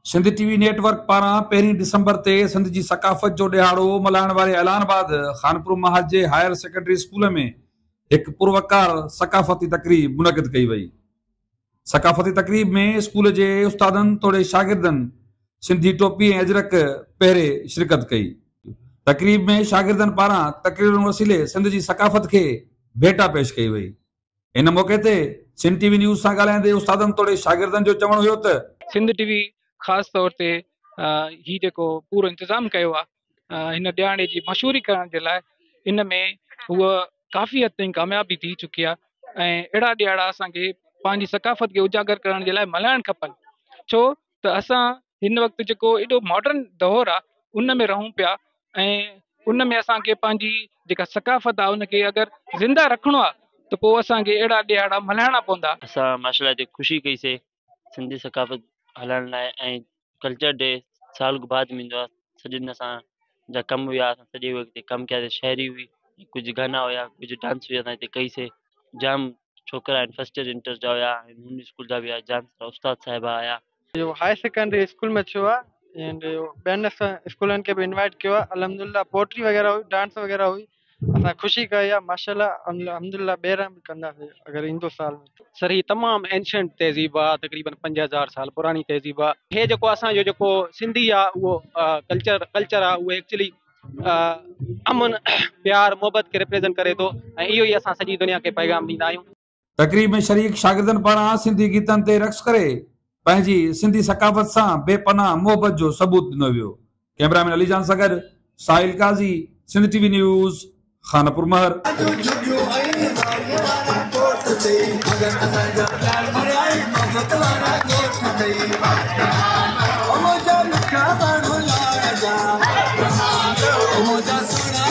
Sindh T V network پاران پهرين December تي سنڌ جي ثقافت جو ڏهاڙو ملهائڻ واري اعلان بعد خانپور محل جي هائر سيڪنڊري اسڪول ۾ هڪ پروقار ثقافتي تقريب منعقد ڪئي وئي. ثقافتي تقريب ۾ اسڪول جي استادن توڙي شاگردن سنڌي ٽوپي ۽ اجرڪ پهري شرڪت ڪئي. تقريب ۾ شاگردن پاران تقريرن وسيلي سنڌ جي ثقافت کي ڀيٽا پيش ڪئي وئي. ان موقعي تي سنڌ ٽي وي نيوز سان ڳالهائيندي استادن توڙي شاگردن جو چوڻ هيو ته. سنڌ ٽي وي خاص طور تي هي جيڪو پورو انتظام ڪيو آهي هن ڏيهاڙي جي مشهوري ڪرڻ جي لاء ان ۾ هوء ڪافي حد تائين ڪامياب به ٿي چڪي آهي ۽ اهڙا ڏيهاڙا اسان کي پنهنجي ثقافت کي اجاگر ڪرڻ جي لاء ملهائڻ کپن ڇو ته اسان هن وقت جيڪو ايڏو ماڊرن دور آ ان ۾ رهون پيا ۽ ان ۾ اسانکي پنهنجي جيڪا ثقافت آ ان کي اگر زنده رکڻو آ ته پوء اسانکي اهڙا ڏهاڙا ملهائڻا پوندا. اسان مارشل آرٽ جي خوشي ڪئي سي سنڌي ثقافت هلائڻ لاء ۽ ڪلچر ڊي سال بعد ميندو آ. سڄي ڏينھن اسان جا ڪم ھيا سڄي وقت ڪم ڪيا سين شھري ھئي ڪجھ گانا ھيا ڪجھ ڊانس ھيا اسان ھتي ڪئي سين جام ڇوڪرا ھين فرسٽ ائير انٽر جا ھيا ھندو اسڪول جا ھيا جام سارا استاد صاحب ھيا. ھائي سيڪنڊري اسڪول ۾ ڇو آ ۽ ٻين اسڪولن کي به انوائيٽ ڪيو آ الحمدلله پوئٽري وغيره ھئي ڊانس وغيره ھئي. اسان خوشي ڪئي آ ماشاءالله الحمدلله ٻيهر به ڪنداسين اگر ايندو سال. سر هي تمام اينشنٽ تهذيب آ تقريبن پنج هزار سال پراڻي تهذيب آ هي جيڪو اسان جو جيڪو سنڌي آ اهو ڪلچر ڪلچر آ اهو ايڪچلي امن پيار محبت کي ريپريزنٽ ڪري ٿو ۽ اهو ئي اسان سڄي دنيا کي پيغام ڏيندا آهيون. تقريب ۾ شريڪ شاگردن پاران سنڌي گيتن تي رقص ڪري پنهنجي سنڌي ثقافت سان بي پناهه محبت جو ثبوت ڏنو ويو. ڪئميرا مين علي جان سان گڏ Sahil Qazi, Sindh T V news, Khanpur مهر.